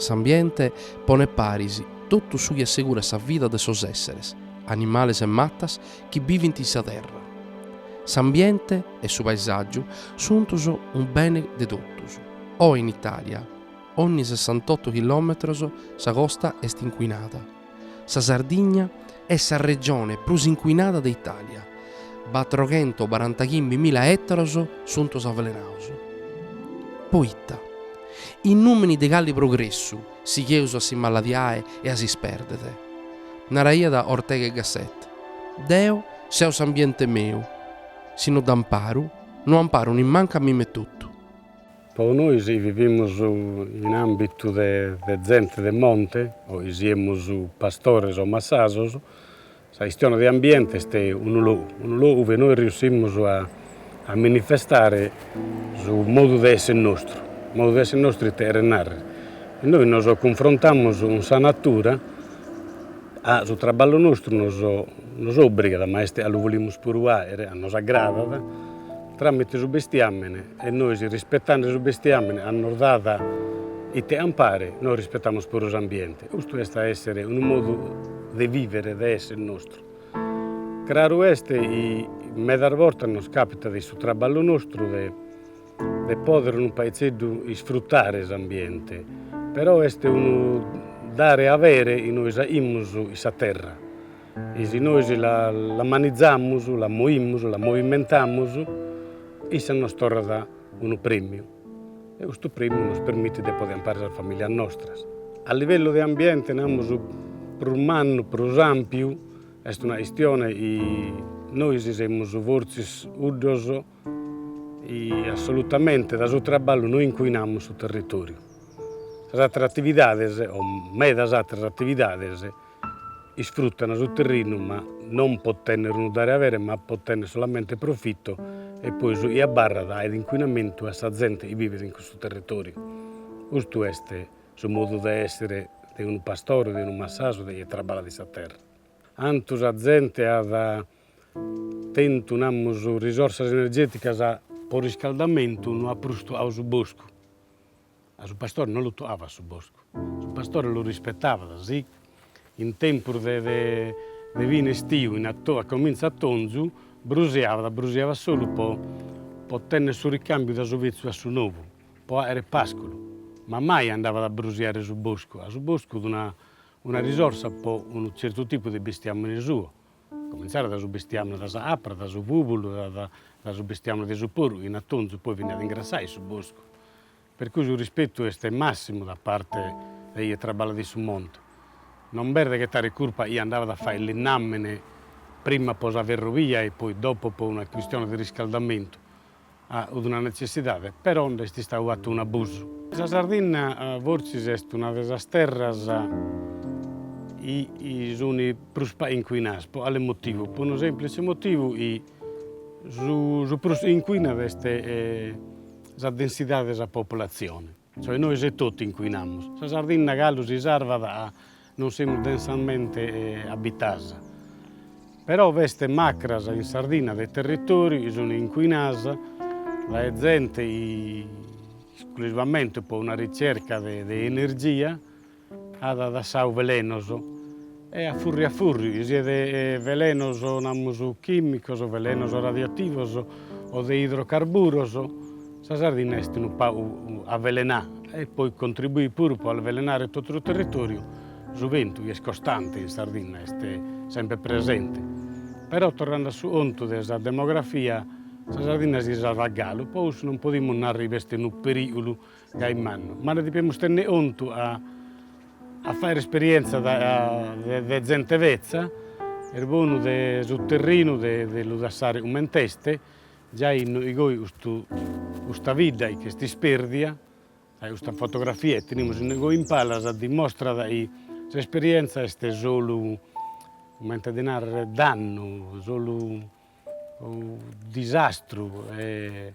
S'ambiente ponet paris totu su chi assegurat sa vida de sos èsseres, animales e matas, chi bivint in sa terra. S'ambiente e su paesàgiu suntos unu bene de totus. Oe in Itàlia, onni sessantotto chilòmetros sa costa est incuinada. Sa Sardigna est sa regione prus incuinada de Itàlia, batroghento barantachimbi mila ètaros suntos avelenados. Poita? In nùmini de cali progressu sigheus a si maladiare e a s'ispèrdere? Naraiat Ortega e Gasset, Deo seu s'ambiente meu, si no dd'amparu, no amparu nimmancu a mime totu. Po nois chi vivimus in ambitu de zente de monte, o chi siemus pastores o massasos, sa chistione de ambiente est unu logu, unu logu ue nois riussimus a manifestare su modu de esser nostru, modu de esser nostru ite cheret narrer, e nois nos cunfrontamus cun sa natura, a su traballu nostru nos obrigat, ma est a lu volimus puru fagher, a nos agradat Tramite su bestiamene e nois rispetande su bestiamene a nos dat ite ampare, nois rispetamus puru s'ambiente. Custu est a essere unu modu de vivere, de esser nostru. Craru est chi medas bortas nos capitat de in su traballu nostru de de poder unu paitzeddu isfrutare s'ambiente, però est unu dare e avere chi nois aimus in sa terra, E si nois la manizamus, la moimus, la movimentamus, issa nos torrat unu prèmiu e custu prèmiu nos permitit de poder ampare sas familias nostras. A livellu de ambiente, namus, prus mannu, prus ampiu, est una chistione chi nois semus fortzis 'uddos chi assolutamente dae su traballu no incuinamus su territoriu. Sas atteras attividades o medas atteras attividades Isfruttana su terrinu ma non po tenner unu dare avere ma po tenner solamente profitto e poi su chi abbarrat est inquinamentu a sa zente chi vivet in custu territoriu. Custu est su modu de essere de unu pastore, de unu massasu de chie traballat in sa terra. Antu sa zente at tentu namus risorsas energeticas po riscaldamentu no at prus tuau su boscu. A su pastore no lu toabat su boscu, su pastore lu rispetabat, sì in tempus de de fine estiu finas a cominzu atonzu brusiabat, brusiabat solu po po tenner su ricambiu da su vetzu a su nou, po aere pasculu, ma mai andabat a brusiare su boscu, a su boscu una una risorsa po unu zertu tipu de bestiamine suo, Comintzare dae su bestiamini de sa apra, dae su bùbulu, dae su bestiamini de su poru, in atonzu poi beniat a ingrassai su boscu. Per cui su rispetu est massimu da parte de ie traballat in su monte. Non b'est de ghetare curpa a ie andavat a fai linnamini prima po sa ferrovia e poi dopo po una quistione de riscaldamentu, at una netzessidade, però nd'est istadu fatu un'abusu. Sa Sardinna fortzis est una de sas terras chi sunt prus pagu incuinadas, pro cale motivu? Pro unu semplice motivu chi su prus incuinat est sa densidade de sa populatzione. Cioè nois etotu incuinamus. Sa Sardinna galu si sarvat non semus densamente abitas. Però b'est macras in Sardinna de territoriu chi sunt incuinas dae zente esclusivamente po una ricerca de energia At dassadu velenos e a furri a furri, siat velenos namus chìmicos, velenos radioativos o de idrocarburos, sa Sardinna est unu pagu avelenà e poi contribuit puru pro avelenare totu su territòriu, su bentu chi est costante in Sardinna est semper presente. Però torrende a su contu de sa demografia, sa Sardinna si salvat galu, pro cussu non podimus narrer chi est unu perìgulu Gai mannu, ma nde dipemus tenni contu a a fagher esperienza de zente betza, est bonu de su terrinu de de lu dassare cument'est, giai inno igoi custu custa bidda chi est ispèrdia, giai custa fotografia chi tenimus inno igoi in palas dimostrat chi s'esperienza est solu, comente a ddi nàrrere, dannu, solu disastru e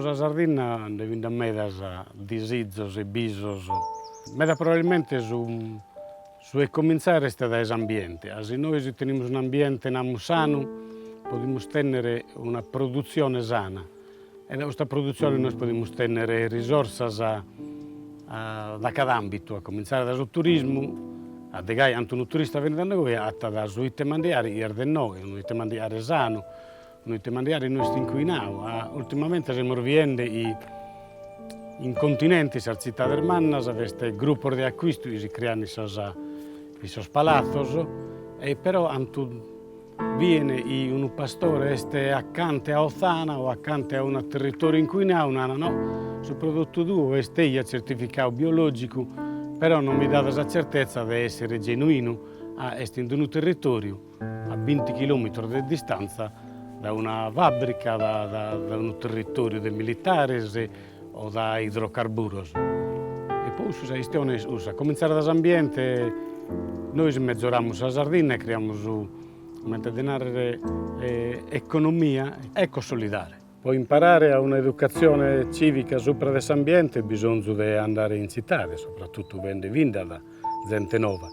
Sa Sardinna nde bi nd'at medas disizos e bisos, meda probabilmente su su 'e cominzare est dae s'ambiente, a si nois tenimus un'ambiente namus sanu podimus tenner una produzione sana E dae custa produtzione nois podimus tènnere risorsas dae cada àmbitu, a comintzare dae su turismu, a de gai cando unu turista benit a nois agatat su ite mandiari chi est de nois, unu ite mandiari sanu, unu ite mandiari no est incuinadu. Ultimamente semus biende chi in continente, in sas tzitades mannas, b'est grupos de accuistu chi si creant in sos palatzos e però ant Bene si unu pastore est acante a othana o acante a unu territòriu incuinau, narat no, su prodotu tuo est eja tzertificau biològicu, però no mi dat sa tzertetza de èssere genuinu, ca est in unu territòriu a binti chilòmitros de distantza da una fàbrica, da unu territòriu de militares, o da idrocarburos. E po cussu sa chistione est cussa, a comintzare da s'ambiente, nois mezoramus sa Sardinna e criamus, comente de narrer, economia ecosolidare. Po imparare a una educatzione civica supra de s'ambiente bisonzu de andare in tzitade, subrattotu benende finzat zente nova.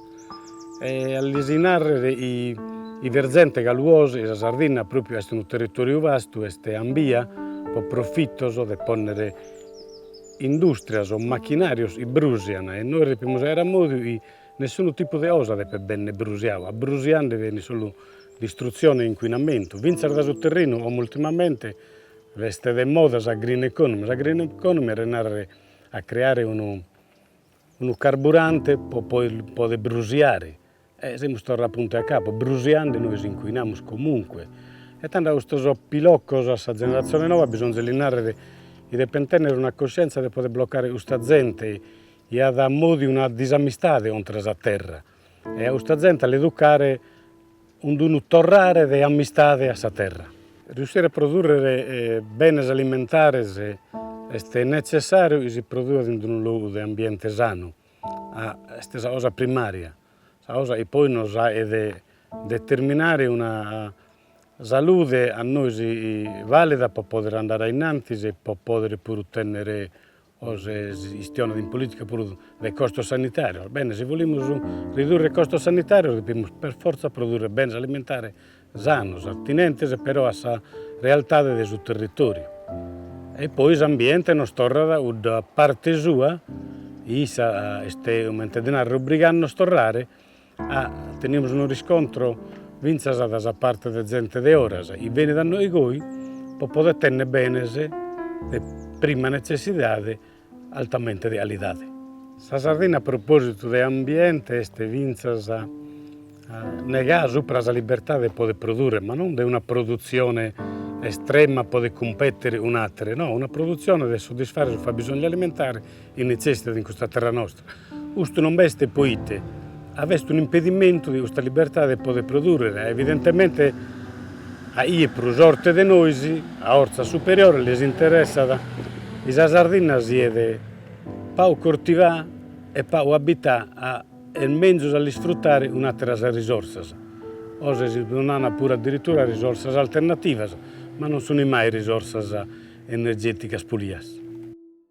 E a lis narrer a bi est zente chi luos sa Sardinna propriu est unu territoriu vastu est ambia po profitos de ponner industrias o machinarios chi brusian e nois depimus aer a modu chi nessunu tipu de osa depet benner brusiau, abrusiande benit solu distruzione e inquinamentu, finzas da su terrinu como ultimamente est de moda sa green economy, sa green economy est andare a creare unu Unu carburante po poder brusiare e semus torra puntu a capu, brusiande nois incuinamus comunque e tando a custos piloccos a sa generazione nova bisonz'e li narrere chi deppen tennere una coscienza de poder bloccare custa zente chi at a modu de una disamistade contra sa terra. E a custa zente a l'educare in d'unu torrare de amistade a sa terra. Riussire a produrrere benes alimentares est netzessàriu chi si produat in unu logu de ambiente sanu, est sa cosa primària, sa cosa chi poi nos at a determinare una salude a nois valida pro pòdere andare a innantis e pro pòdere puru tènnere Poi si istionat in politica puru de costos sanitarios. Bene, si bolimus ridurre costos sanitarios depimus per fortza produrre benes alimentare sanos, attinentes però a sa realtade de su territoriu. E poi s'ambiente nos torrat a cudda parte sua, issa est comente de narrer obbrigande nos torrare Tenimus unu riscontro fintzas dae sa parte de zente de oras chi benit a nois goi po poder tenner benes de prima netzessidade altamente de alidade. Sa Sardigna a propositu de ambiente est fintzas negada supra sa libertade de poder produrre, ma non de una produtzione estrema a poder cumpeter cun atere, no, una produtzione de soddisfare su fabisonzu alimentare chi netzessitat in custa terra nostra, custu non b'est poite a b'est un'impedimentu de custa libertade de poder produrrer, a evidentemente a ie prus orte de nois, a orzas superiores les interessat chi sa Sardinna siet pagu cortivà e pagu abità a est menzus a l'isfruttare un atteras risorsas, oe si nana puru addirittura risorsas alternativas, ma non sun mai risorsas energeticas pulias.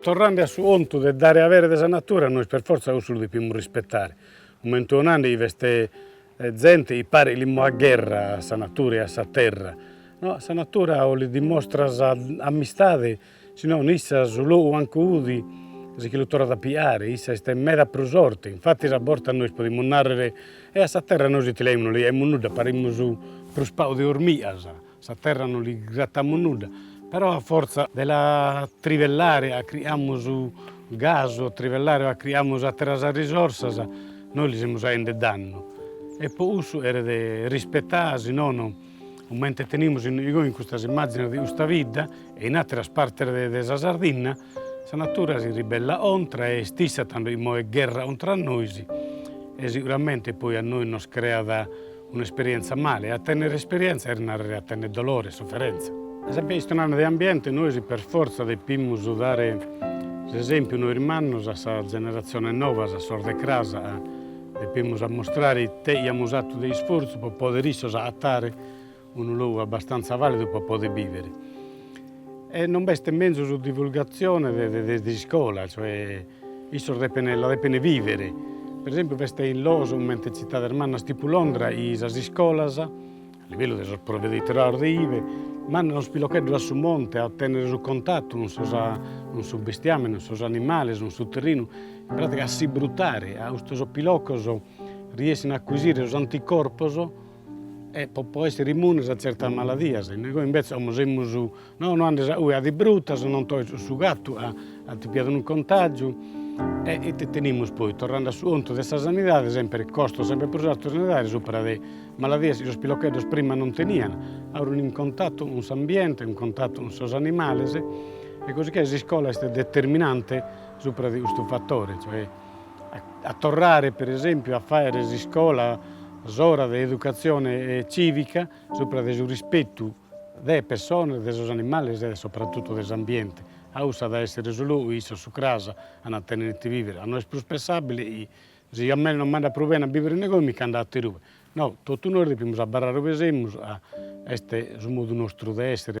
Torrande a su contu de dare avere de sa natura, nois per fortza cussu lu depimus rispetare, cumente so nande chi b'est zente chi paret li moet gherra a sa natura e a sa terra, no, a sa natura o li dimostras amistade, si no issa su logu ancu 'udi si che lu torrat a piare, issa est meda prus orte, infatis a bortas nois podimus narrer, e a sa terra nois ite li aimus, no li aimus nudda, parimus prus pagu de ormigas. Sa terra non li gratamus nudda, però a fortza de la trivellare a criamus gasu, a trivellare a criamus àteras risorsas, nois li semus aende dannu. E po cussu eret rispettà, si nono comente tenimus inogoi in custas immàgines de custa bidda e in àteras partes de de sa Sardinna, sa natura si ribellat contra e est issa tando chi moet gherra contra a nois e siguramente poi a nois nos creat Un'esperientza male, e a tennere esperientza est narrere a tennere dolore e soferentza. E sempre istionande de ambiente nois per fortza depimus dare s'esempiu nois mannos a sas generatziones novas, a sos de cras, depimus ammustrare ite iamus atu de isfortzu pro pòdere issos agatare unu logu abbastantza validu pro pòdere bivere. E non b'est menzus divulgatzione de de de s'iscola, cioè issos depen la depen vivere. Per esempiu b'est in loos comente tzitades mannas tipu Londra chi sas iscolas, a livellu de sos proveditorados de ive, mandan sos pilocheddos a su monte a tènnere su contatu cun sos cun su bestiamene, cun sos animales, cun su terrinu, in pràtica a si brutare, a custos piloccos riessin a accuisire sos anticorpos E po po essere immunes a zertas maladias, innoi invece como semus, no no andes a ue a ti brutas, non toes su su gattu a ti piat unu contagiu, e ite tenimus poi, torrande a su 'ontu de sa sanidade, sempre costos sempre prus artos sanitarios, supra de maladias chi sos pilocheddos prima non tenian, a urin in contattu cun s'ambiente, in contattu cun sos animales, e così che s'iscola est determinante supra de custu fattore, cioè a torrare per esempiu a faere s'iscola s'ora de educatzione civica supra de su rispetu de persones, de sos animales e soprattutto de s'ambiente. A ussu at a essere su logu issos cras an a tenere ite vivere, a no est prus pensabile chi si a mei non m'andat prus bene a bivere inogoi mi ch'ando aterube. No, totu nois depimus abarrare ue semus a est su modu nostru de essere.